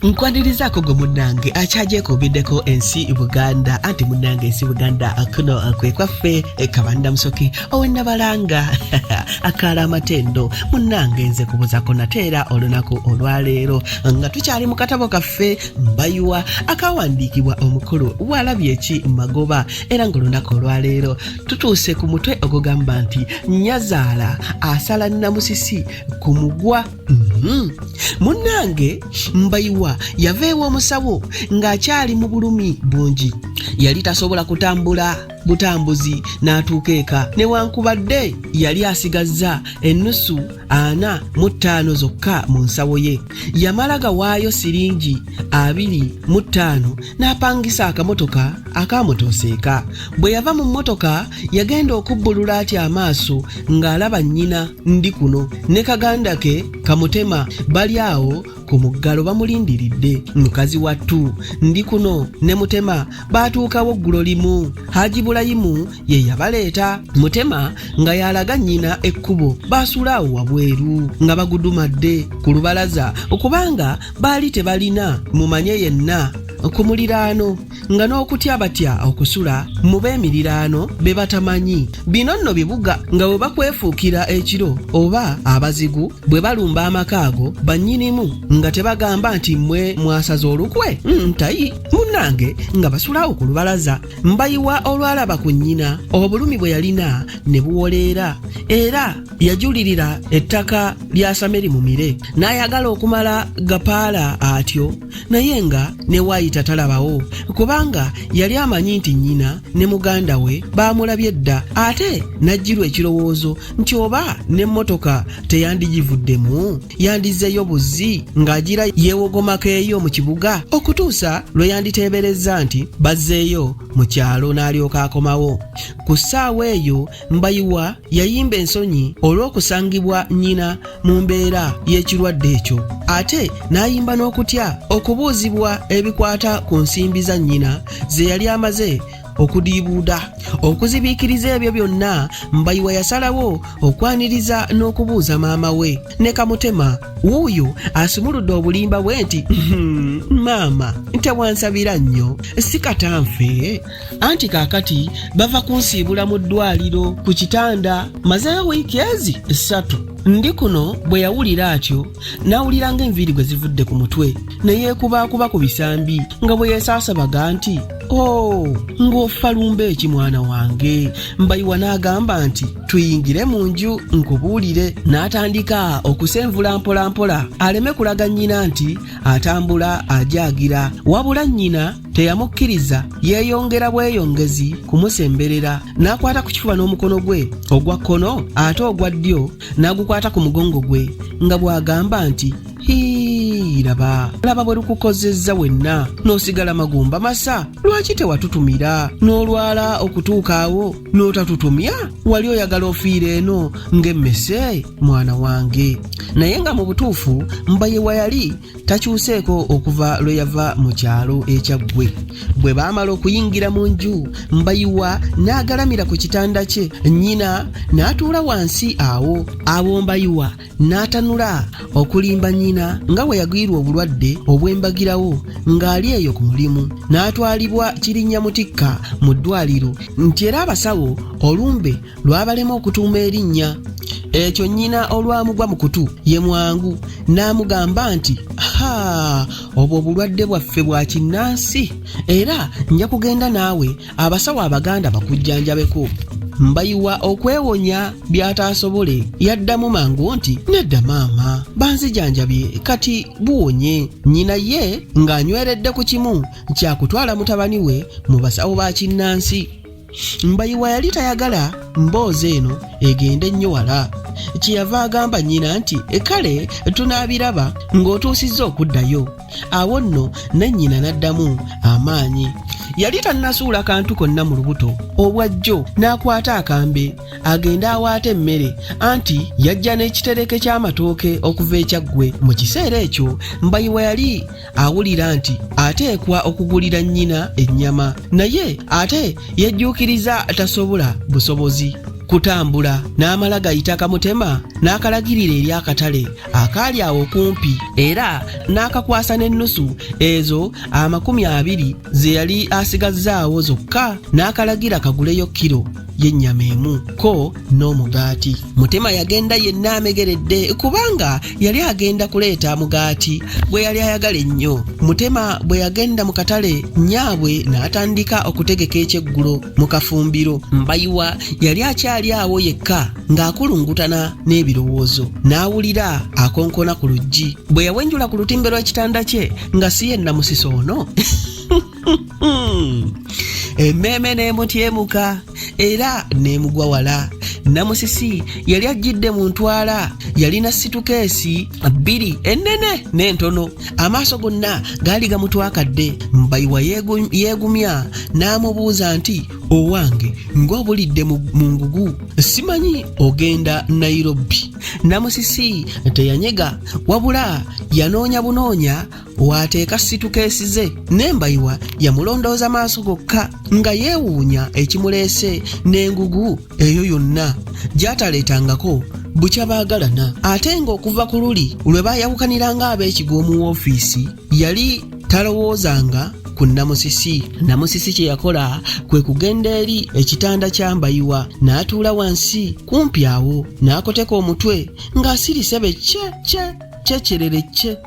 nkwanirizaako gwe munnange akyagyekuumiddeko ensi buganda anti munnange ensi buganda kuno kwe kwaffe e kabanda musoke owenabalanga akaala amatendo munnange nze kubuzako nate era olunaku olwaleero nga tukyali mu katabo kaffe mbayiwa akawandiikibwa omukulu waalabye ki magoba era ngaolunaku olwaleero tutuuse ku mutwe ogugamba nti nyazaala asala namusisi ku mugwa Mhm. munnange mbayiwa yava ew'omusawo ng'akyali mu bulumi bungi yali tasobola kutambula butambuzi n'atuuka eka newankubadde yali asigazza ennusu ana mu ttaano zokka mu nsawo ye yamala gawaayo siringi abiri mu ttaano n'apangisa akamotoka akaamutooseeka bwe yava mu mmotoka yagenda okubbulula atya amaaso ng'alaba nnyina ndi kuno ne kaganda ke kamutema bali awo ku muggalo bamulindiridde mukazi wattu ndi kuno ne mutema baatuukawo ggulo limu haji bulayimu ye yabaleeta mutema nga yalaga nnyina ekkubo baasula awo wabweru nga bagudumadde ku lubalaza okubanga baali tebalina mumanye yenna ku muliraano nga n'okutya batya okusula mu b'emiriraano be batamanyi bino nno bibuga nga bwe bakwefuukira ekiro oba abazigu bwe balumba amaka ago bannyinimu nga tebagamba nti mmwe mwasaza olukwe ntayi mm, munnange nga basulawo ku lubalaza mbayiwa olwalaba ku nnyina obulumi bwe yalina ne buwoleera era yajulirira ettaka lya sameri mumire n'ayagala okumala gapaala atyo naye nga ne waayita talabawo kubanga yali amanyi nti nnyina ne muganda we baamulabye dda ate n'ajjirwa ekirowoozo nti oba n'emmotoka teyandigivuddemu yandizzeeyo buzzi ng'agira yeewogomako eyo mu kibuga okutuusa lwe yanditeeberezza nti bazzeeyo mu kyalo n'alyoka akomawo ku ssaawa eyo Mbayiwa yayimba ensonyi olw'okusangibwa nnyina mu mbeera y'ekirwadde ekyo ate n'ayimba n'okutya okubuuzibwa ebikwata ku nsimbi za nnyina ze yali amaze okudiibuuda okuzibiikiriza ebyo byonna mbayiwa yasalawo okwaniriza n'okubuuza maama we ne kamutema wuuyo asumuludde obulimba bwe nti hmm, maama tewansabira nnyo sikatanfe anti kaakati bava kunsiibula mu ddwaliro ku kitanda mazeeyo wiiki ezi ssatu ndi kuno bwe yawulira atyo n'awulira ng'enviiri gwe zivudde ku mutwe ne yeekubaakuba ku bisambi nga bwe yeesaasabaga nti o oh, ng'ofa lumba eki mwana wange mbayiwa n'agamba nti tuyingire mu nju nkubuulire n'atandika okusenvula mpolampola aleme kulaga nnyina nti atambula ajagira wabula nnyina teyamukkiriza yeeyongera bweyongezi kumusemberera n'akwata ku kifuba n'omukono gwe ogwa kkono ate ogwa ddyo n'agukwata ku mugongo gwe nga bw'agamba nti hiiraba laba bwe lukukozezza wenna n'osigala magumba masa lwaki tewatutumira n'olwala okutuuka awo n'otatutumya wali oyagala ofiira eno ng'emmese mwana wange naye nga mu butuufu mbayewa yali takyuseeko okuva lwe yava mu kyalo ekyaggwe bwe baamala okuyingira mu nju mbayiwa n'agalamira ku kitanda kye nnyina n'atuula wansi awo awo mbayiwa n'atanula okulimba nnyina nga bwe yagwirwa obulwadde obw'embagirawo ng'ali eyo ku mulimu n'atwalibwa kirinnya mutikka mu ddwaliro nti era abasawo olumbe lwabalema okutuuma erinnya ekyo nnyina olwamugwa mu kutu ye mwangu n'amugamba nti ha obwo obulwadde bwaffe bwa kinnansi era nja kugenda naawe abasawo abaganda bakujjanjabeko mbayiwa okwewonya by'ataasobole yaddamu mangu nti nedda maama banzijanjabye kati buwonye nnyina ye ng'anyweredde ku kimu kyakutwala mutabani we mu basawo ba kinnansi mbayiwa yali tayagala mboozi eno egende nnyo wala kyeyava agamba nnyina nti e kale tunaabiraba ng'otuusizza okuddayo awo nno ne nnyina n'addamu amaanyi yali tannasuula kantu konna mu lubuto obwa jjo n'akwata akambe agende awaata emmere anti yajja n'ekitereke ky'amatooke okuva ekyaggwe mu kiseera ekyo mbayiwa yali awulira nti ateekwa okugulira nnyina ennyama naye ate yejjuukiriza tasobola busobozi kutambula n'amala gayita kamutema n'akalagirira eri akatale akaali awo okumpi era n'akakwasa n'ennusu ezo amakumi abiri ze yali asigazzaawo zokka n'akalagira kaguleyo kiro y'ennyama emu ko n'omugaati mutema yagenda yenna amegeredde kubanga yali agenda kuleeta mugaati gwe yali ayagala ennyo mutema bwe yagenda mu katale nyaabwe n'atandika okutegeka ekyeggulo mu kafumbiro mbayiwa yali akyali awo yekka ng'akulungutana n'ebirowoozo n'awulira akonkona ku luggi bwe yawenjula ku lutimbe lw'ekitanda kye nga si yenna musisi ono emmeeme n'emutyemuka era n'emugwa wala namusisi yali ajjidde mu ntwala yalina situkeesi bbiri ennene n'entono amaaso gonna gaali gamutwakadde mbayiwa yeegumya n'amubuuza nti owange ng'obulidde mu ngugu simanyi ogenda nairobi namusisi teyanyega wabula yanoonya bunoonya waateeka situkeesi ze n'embayiwa yamulondooza maaso gokka nga yeewuunya ekimuleese n'engugu eyo yonna gy'ataleetangako bukya baagalana ate ng'okuva ku luli lwe baayawukaniranga ab'ekigo mu woofiisi yali talowoozanga ku namusisi namusisi kye yakola kwe kugenda eri ekitanda kya mbayiwa n'atuula wansi kumpi awo n'akoteka omutwe ng'asirise be kye kye kyekyerere kye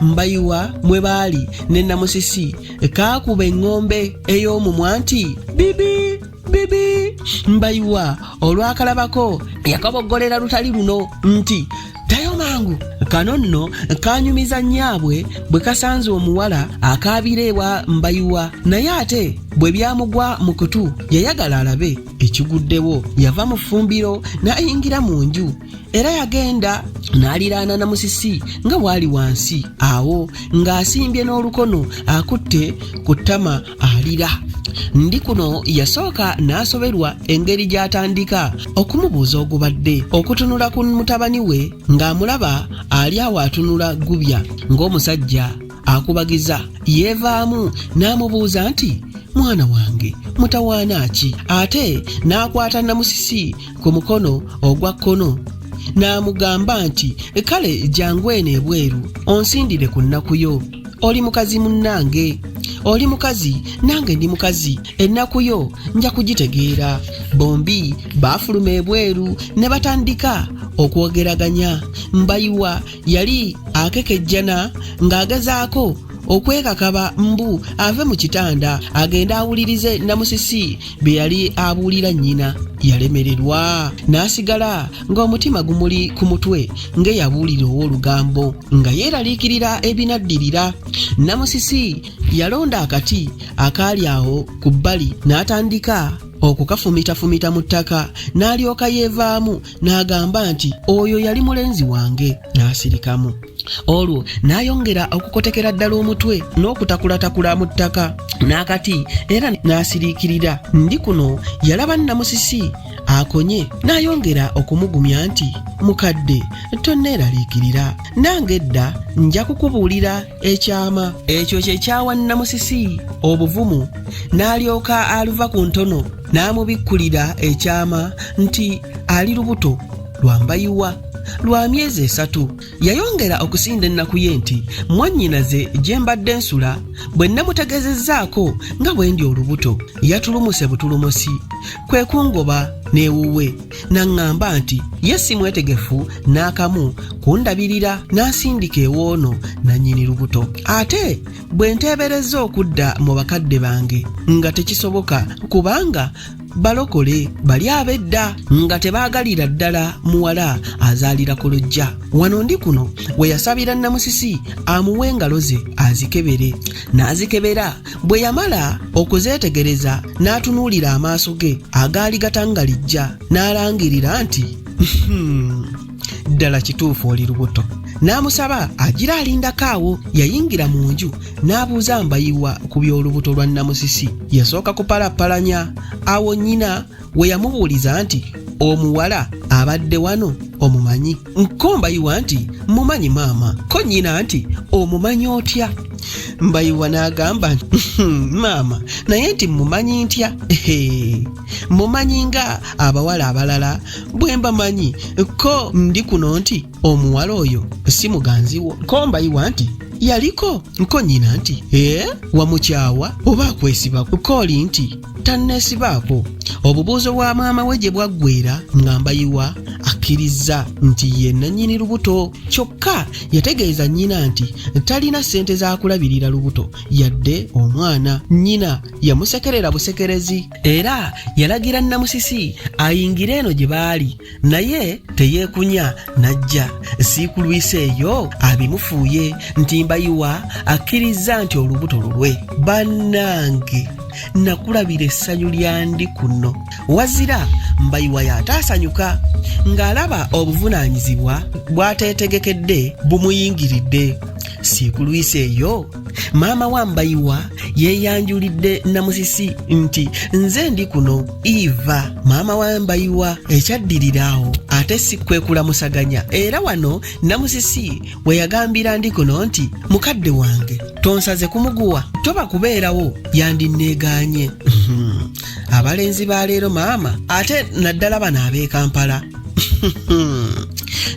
mbayiwa mwe baali ne namusisi kaakuba eŋŋombe ey'omumwa nti bibi bibi mbayiwa olwakalabako yakaboggolera lutali luno nti ddayo mangu kano nno kanyumiza nnyaabwe bwe kasanze omuwala akaabira ewa mbayiwa naye ate bwe byamugwa mu kutu yayagala alabe ekiguddewo yava mu ffumbiro n'ayingira mu nju era yagenda n'aliraana na musisi nga waali wansi awo ng'asimbye n'olukono akutte ku ttama alira ndi kuno yasooka n'asoberwa engeri gy'atandika okumubuuza ogubadde okutunula ku mutabani we ng'amulaba ali awo atunula gubya ng'omusajja akubagiza yeevaamu n'amubuuza nti mwana wange mutawaana ki ate n'akwata namusisi ku mukono ogwa kkono n'amugamba nti kale jangu eno ebweru onsindire ku nnaku yo oli mukazi munnange oli mukazi nange ndi mukazi ennaku yo nja kugitegeera bombi baafuluma ebweru ne batandika okwogeraganya mbayiwa yali akekejjana ng'agezaako okwekakaba mbu ave mu kitanda agende awulirize namusisi bye yali abuulira nnyina yalemererwa n'asigala ng'omutima gumuli ku mutwe ng'eyabuulira ow'olugambo nga yeeraliikirira ebinaddirira namusisi yalonda akati akaali awo ku bbali n'atandika okukafumitafumita mu ttaka n'alyoka yeevaamu n'agamba nti oyo yali mulenzi wange n'asirikamu olwo n'ayongera okukotekera ddala omutwe n'okutakulatakula mu ttaka n'akati era n'asiriikirira ndi kuno yalaba nnamusisi akonye n'ayongera okumugumya nti mukadde tonneeraliikirira nange edda nja kukubuulira ekyama ekyo kye kyawa nnamusisi obuvumu n'alyoka aluva ku ntono n'amubikkulira ekyama nti ali lubuto lwambayiwa lwa myezi esatu yayongera okusinda ennaku ye nti mwannyinaze gye mbadde nsula bwe nnamutegezezzaako nga bwe ndi olubuto yatulumuse butulumusi kwe kungoba n'ewuwe n'aŋŋamba nti ye si mwetegefu n'akamu kundabirira n'asindika ewoono nannyini lubuto ate bwe nteeberezza okudda mu bakadde bange nga tekisoboka kubanga balokole bali abedda nga tebaagalira ddala muwala azaalira ku lujja wano ndi kuno we yasabira namusisi amuwe engalo ze azikebere n'azikebera bwe yamala okuzeetegereza n'atunuulira amaaso ge agaali gatangalijja n'alangirira nti hmm, ddala kituufu oli lubuto n'amusaba agira alindako awo yayingira mu nju n'abuuza mbayiwa ku by'olubuto lwa namusisi yasooka kupalappalanya awo nnyina we yamubuuliza nti omuwala abadde wano omumanyi nkombayiwa nti mumanyi maama ko nnyina nti omumanyi otya mbayiwa n'agamba nti hmm, maama naye nti mumanyi ntya mumanyi nga abawala abalala bwe mba manyi ko ndi kuno nti omuwala oyo si muganzi wo ko mbayiwa nti yaliko ko nnyina nti ee wamukyawa oba akwesibako kooli nti tanneesibaako obubuuzo bwa maama we gye bwaggweera nga mbayiwa akkirizza nti ye nannyini lubuto kyokka yategeeza nnyina nti talina ssente za kulabirira lubuto yadde omwana nnyina yamusekerera busekerezi era yalagira nnamusisi ayingire eno gye baali naye teyeekunya n'ajja siikulwisa eyo abimufuuye nti mbayiwa akkirizza nti olubuto lulwe bannange nakulabira essanyu lyandi kuno wazira mbayiwa yataasanyuka ng'alaba obuvunaanyizibwa bwateetegekedde bumuyingiridde siikulwisa eyo maama wa mbayiwa yeeyanjulidde namusisi nti nze ndi kuno iva maama wa mbayiwa ekyaddiriraawo ate si kwekulamusaganya era wano namusisi we yagambira ndi kuno nti mukadde wange tonsaze kumuguwa toba kubeerawo yandinneegaanye abalenzi ba leero maama ate naddala bano ab'e kampala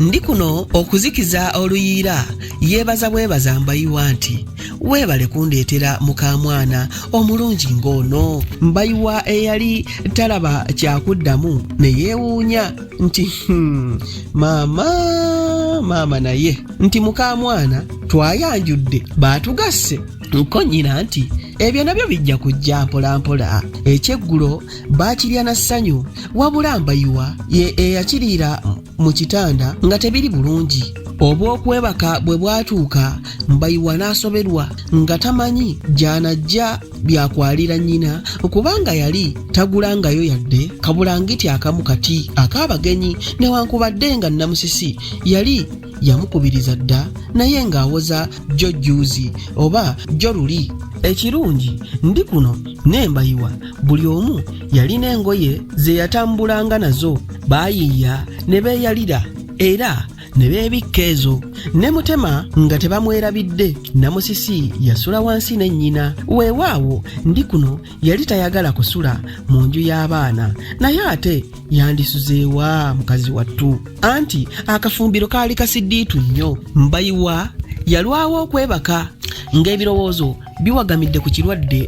ndi kuno okuzikiza oluyiira yeebaza bwebaza mbayiwa nti weebale kundeetera mukaamwana omulungi ng'ono mbayiwa eyali talaba kyakuddamu ne yeewuunya nti hmm, maama maama naye nti mukaamwana twayanjudde baatugasse nkonnyina nti ebyo nabyo bijja kujja mpolampola ekyeggulo baakirya na ssanyu wabula mbayiwa ye eyakiriira mu kitanda nga tebiri bulungi obw'okwebaka bwe bwatuuka mbayiwa n'asoberwa nga tamanyi gy'anajja byakwalira nnyina kubanga yali tagulangayo yadde kabulangiti akamu kati ak'abagenyi newankubadde nga nnamusisi yali yamukubiriza dda naye ng'awoza jjo jjuuzi oba jjo luli ekirungi ndi kuno nembayiwa buli omu yalina engoye ze yatambulanga nazo baayiiya ne beeyalira era ne beebikka ezo ne mutema nga tebamwerabidde namusisi yasula wansi ne nnyina weewaawo ndi kuno yali tayagala kusula mu nju y'abaana naye ate yandisuzeewa mukazi wattu anti akafumbiro kaali kasiddiitu nnyo mbayiwa yalwawo okwebaka ng'ebirowoozo biwagamidde ku kirwadde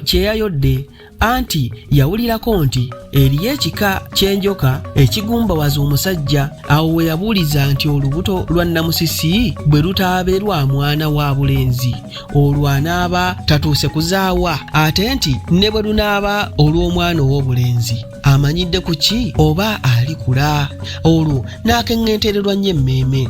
kyeyayodde anti yawulirako nti eriyo ekika ky'enjoka ekigumbawaza omusajja awo we yabuuliza nti olubuto lwa nnamusisi bwe lutaabe lwa mwana wa bulenzi olwo anaaba tatuuse kuzaawa ate nti ne bwe lunaaba olw'omwana ow'obulenzi amanyidde ku ki oba alikula olwo n'akeŋŋentererwa nnyo emmeeme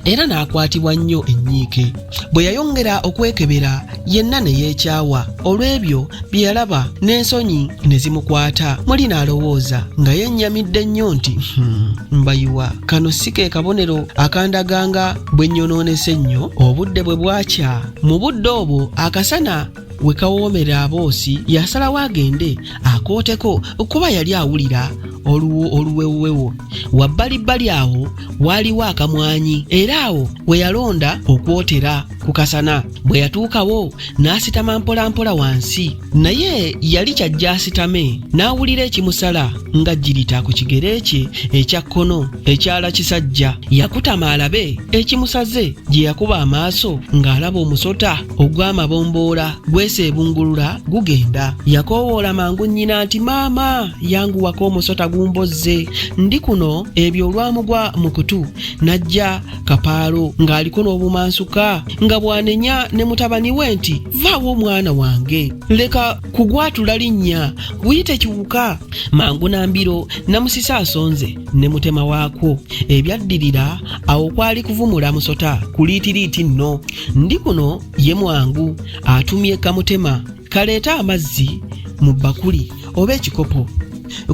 era n'akwatibwa nnyo ennyiike bwe yayongera okwekebera yenna ne yeekyawa olw'ebyo bye yalaba n'ensonyi ne zimukwata muli n'alowooza nga yennyamidde nnyo nti hmm, mbayiwa kano si ke kabonero akandaganga bwe nnyonoonese nnyo obudde bwe bwakya mu budde obwo akasana we kawoomera aboosi yasalawo agende akooteko kuba yali awulira oluwo oluwewowewo wabbalibbali awo waaliwo akamwanyi era awo we yalonda okwotera ku kasana bwe yatuukawo n'asitama mpolampola wansi naye yali kyajja asitame n'awulira ekimusala nga jirita ku kigere kye ekya kkono ekyala kisajja yakutama alabe ekimusaze gye yakuba amaaso ng'alaba omusota ogw'amabomboola gweseebungulula gugenda yakoowoola mangu nnyina nti maama yanguwako omusota gumbozze ndi kuno ebyo olwamugwa mu kutu n'ajja kapaalo ng'aliko n'obumansuka nga bwanenya ne mutabani we nti vaawo omwana wange leka kugwatula linnya guyite kiwuka mangu na mbiro namusisa asonze ne mutema waakwo ebyaddirira awo kwali kuvumula musota kuliitiriiti nno ndi kuno ye mwangu atumye kamutema kaleete amazzi mu bbakuli oba ekikopo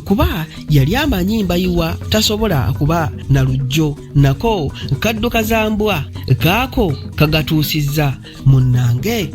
kuba yali amanyi mbayiwa tasobola kuba na lujjo nako kadduka za mbwa kaako kagatuusizza munnange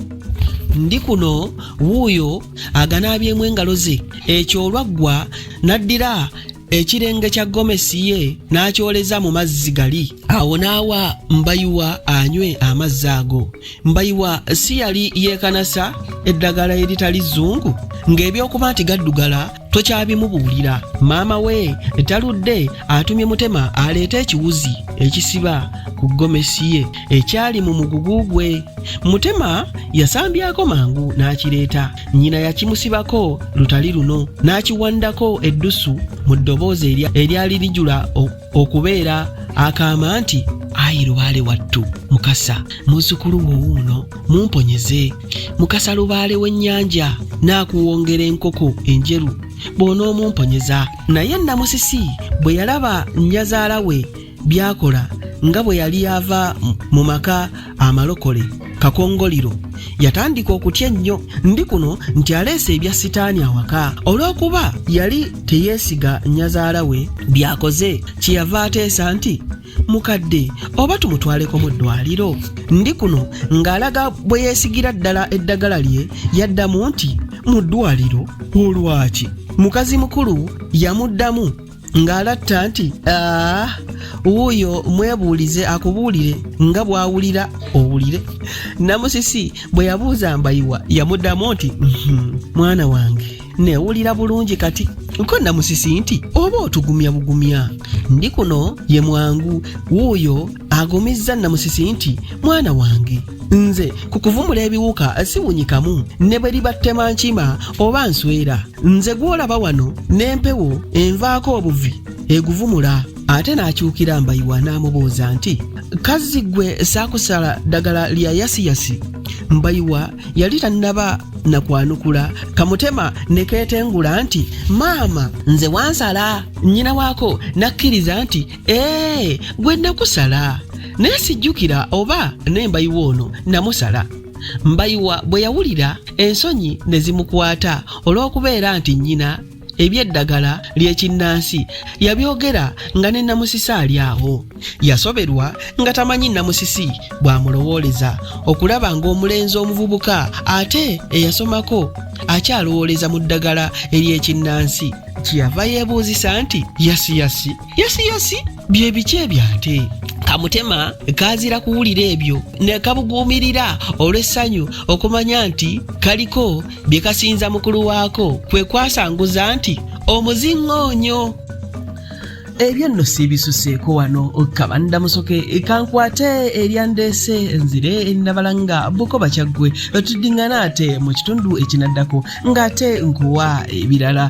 ndi kuno wuuyo aganaabyemu engalo ze ekyo olwaggwa n'addira ekirenge kya gomesi ye n'akyoleza mu mazzi gali awo n'awa mbayiwa anywe amazzi ago mbayiwa si yali yeekanasa eddagala eritali zzungu ng'ebyokuba nti gaddugala tokyabimubuulira maama we taludde atumye mutema aleeta ekiwuzi ekisiba ku gomesi ye ekyali mu mugugu gwe mutema yasambyako mangu n'akireeta nnyina yakimusibako lutali luno n'akiwandako eddusu mu ddoboozi eryali lijula okubeera akaama nti ayi lubaale wattu mukasa muzzukulu wo wuuno mumponyeze mukasa lubaale w'ennyanja n'akuwongera enkoko enjeru bw'onoomumponyeza naye namusisi bwe yalaba nnyazaala we byakola nga bwe yali ava mu maka amalokole kakongoliro yatandika okutya ennyo ndi kuno nti aleese ebya sitaani awaka olw'okuba yali teyeesiga nyazaala we byakoze kyeyava ateesa nti mukadde oba tumutwaleko mu ddwaliro ndi kuno ng'alaga bwe yeesigira ddala eddagala lye yaddamu nti mu ddwaliro olwaki mukazi mukulu yamuddamu ng'alatta nti aa wuuyo mwebuulize akubuulire nga bw'awulira owulire namusisi bwe yabuuza mbayiwa yamuddamu nti "Mhm, mwana wange newulira bulungi kati ko namusisi nti oba otugumya bugumya ndi kuno ye mwangu wuuyo agumizza namusisi nti mwana wange nze ku kuvumula ebiwuka siwunyikamu ne bwe libattema nkima oba nswera nze gw'olaba wano n'empewo envaako obuvi eguvumula ate n'akyukira mbayiwa n'amubuuza nti kazzi gwe saakusala ddagala lya yasiyasi mbayiwa yali tannaba na kwanukula kamutema ne keetengula nti maama nze wansala nnyina waako n'akkiriza nti ee gwe nakusala naye sijjukira oba nembayiwa ono namusala mbayiwa bwe yawulira ensonyi ne zimukwata olw'okubeera nti nnyina ebyeddagala ly'ekinnansi yabyogera nga ne namusisi ali awo yasoberwa nga tamanyi namusisi bw'amulowooleza okulaba ng'omulenzi omuvubuka ate eyasomako akyalowooleza mu ddagala ery'ekinnansi kyeyava yeebuuzisa nti yasiyasi yosiyosi bye biki ebyo ate kamutema kaazira kuwulira ebyo ne kabuguumirira olw'essanyu okumanya nti kaliko bye kasinza mukulu waako kwe kwasanguza nti omuziŋŋoonyo ebyo nno siibisuseeko wano kabanda musoke kankwate eryandeese nzire nabala nga bukoba kyaggwe tuddiŋŋana ate mu kitundu ekinaddako ng'ate nkuwa ebirala